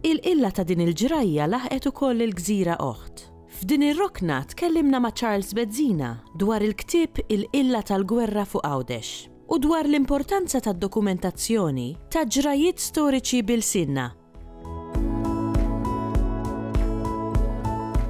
Il-qilla ta' din il-ġrajja laħqet ukoll il-gżira oħt. F'din ir-rokna tkellimna ma' Charles Bezzina dwar il-ktieb Il-Qilla tal-Gwerra fuq Għawdex u dwar l-importanza tad-dokumentazzjoni ta' ġrajjiet storiċi b'ilsienna.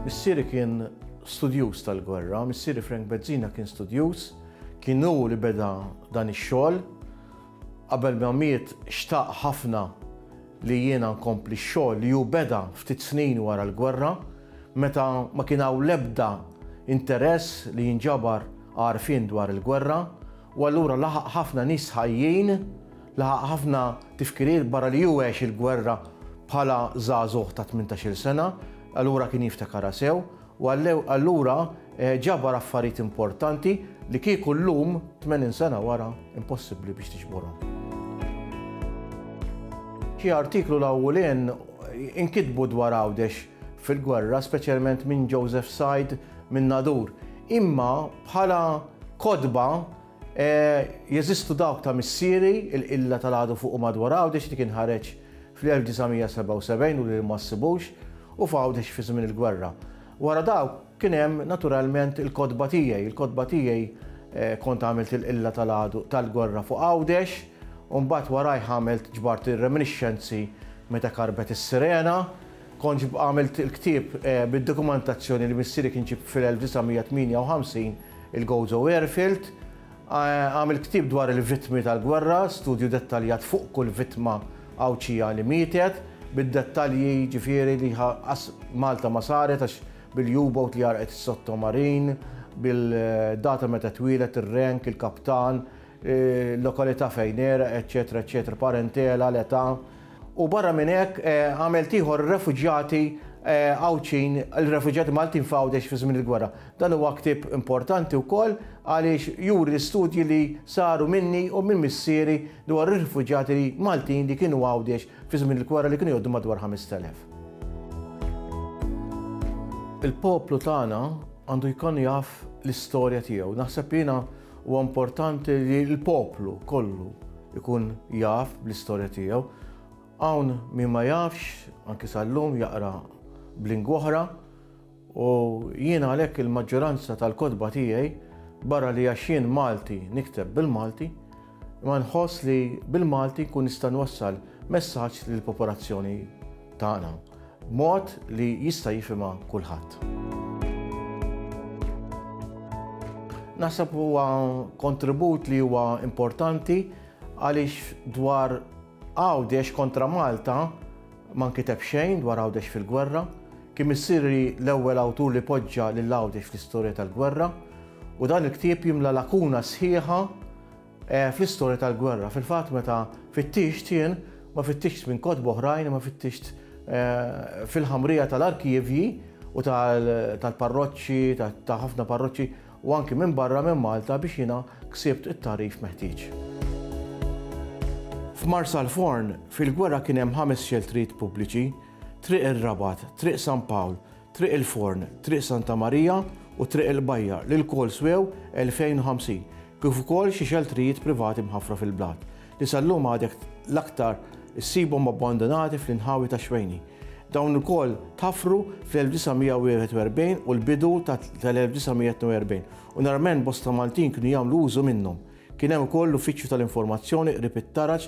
Missieri kien studjuż tal-gwerra. Missieri Frank Bezzina kien studjuż. Kien hu li beda dan ix-xogħol. Qabel ma miet xtaq ħafna li jiena nkompli x-xogħol li hu beda ftit snin wara l-gwerra, meta ma kien hawn l-ebda interess li jinġabar għarfien dwar il-gwerra, u allura laħaq ħafna nies ħajjin, laħaq ħafna tifkiriet barra li hu għex il-gwerra bħala żagħżugħ ta' tmintax-il sena, allura kien jiftakarha sew. U għallew allura ġabar affarijiet importanti li kieku llum, tmenin sena wara, impossibbli biex tiġborhom. Xi artiklu l-awwlien inkitbu dwar Għawdex fil-gwerra, speċjalment minn Joseph Said minn Nadur. Imma bħala kotba Jeżistu dawk ta' missieri, il-qilla tal-għadu fuq u madwar Għawdex li kien ħareġ fl-1977 u li ma ssibux, u f'Għawdex fi żmien il-gwerra. Wara dawk kien hemm naturalment il-kotba tiegħi. Il-kotba tiegħi kont għamilt il-qilla tal-għadu tal-gwerra fuq Għawdex u mbagħad warajh għamilt ġbart ir-reminiscenzi meta karbet is-sirena. Kontx għamilt il-ktieb bid-dokumentazzjoni li missieri kien ġieb fil-1958, il-Gozo Airfield. Għamilt ktieb dwar il-vittmi tal-gwerra, studju dettaljat fuq kull vittma Għawdxija li mietet, bid-dettalji ġifieri li qas Malta ma saret għax bil-U-boat li għarqet is-sottomarin, bil-data meta twieled, ir-rank, il-kaptan, il-lokalità fejn għeraq, eċċetera eċċetera, parentela, l-età. u barra minn hekk għamilt ieħor refuġjati Għawdxin, il-refuġjati Maltin f'Għawdex fi żmien il-gwerra. Dan huwa ktieb importanti wkoll għaliex juri l-istudji li saru minni u minn missieri dwar ir-refuġjati Maltin li kienu Għawdex fi żmien il-gwerra li kienu jgħoddu madwar 5,000. Il-poplu tagħna għandu jkun jaf l-istorja tiegħu. Naħseb jiena Huwa importanti li l-poplu kollu jkun jaf bl-istorja tiegħu. Hawn min ma jafx, anki sal-lum jaqra b'lingwa oħra, u jien għalhekk il-maġġoranza tal-kotba tiegħi, barra li għax jien Malti nikteb bil-Malti, imma nħoss li bil-Malti nkun nista' nwassal messaġġ lill-popolazzjoni tagħna. Mod li jista' jifhimha kulħadd. Naħseb huwa kontribut li huwa importanti għaliex dwar Għawdex kontra Malta ma nkiteb xejn dwar Għawdex fil-gwerra. Kien missieri l-ewwel awtur li poġġa lil Għawdex fl-istorja tal-gwerra u dan il-ktieb jimla lakuna sħiħa fl-istorja tal-gwerra. Fil-fatt meta fittixt jien, ma fittixtx minn kotba oħrajn imma fittixtx fil-ħamrija tal-arkivji u tal-parroċċi, ta' ħafna parroċċi u anki minn barra minn Malta biex jiena ksibt it-tagħrif meħtieġ. F'Marsalforn, fil-gwerra kien hemm ħames xeltrijiet pubbliċi, Triq ir-Rabat, Triq San Pawl, Triq il-Forn, Triq Santa Marija u Triq il-Bajjar li lkoll swew 2,050. kif ukoll xi xeltrijiet privati mħaffra fil-blat, li sal-lum għadek l-aktar issibhom abbandunati fl-inħawi tax-Xwejni. Dawn ukoll tħaffru fl-1941 u l-bidu tal-1942 u narament bosta Maltin kienu jagħmlu użu minnhom. Kien hemm ukoll l-Uffiċċju tal-Informazzjoni qrib it-taraġ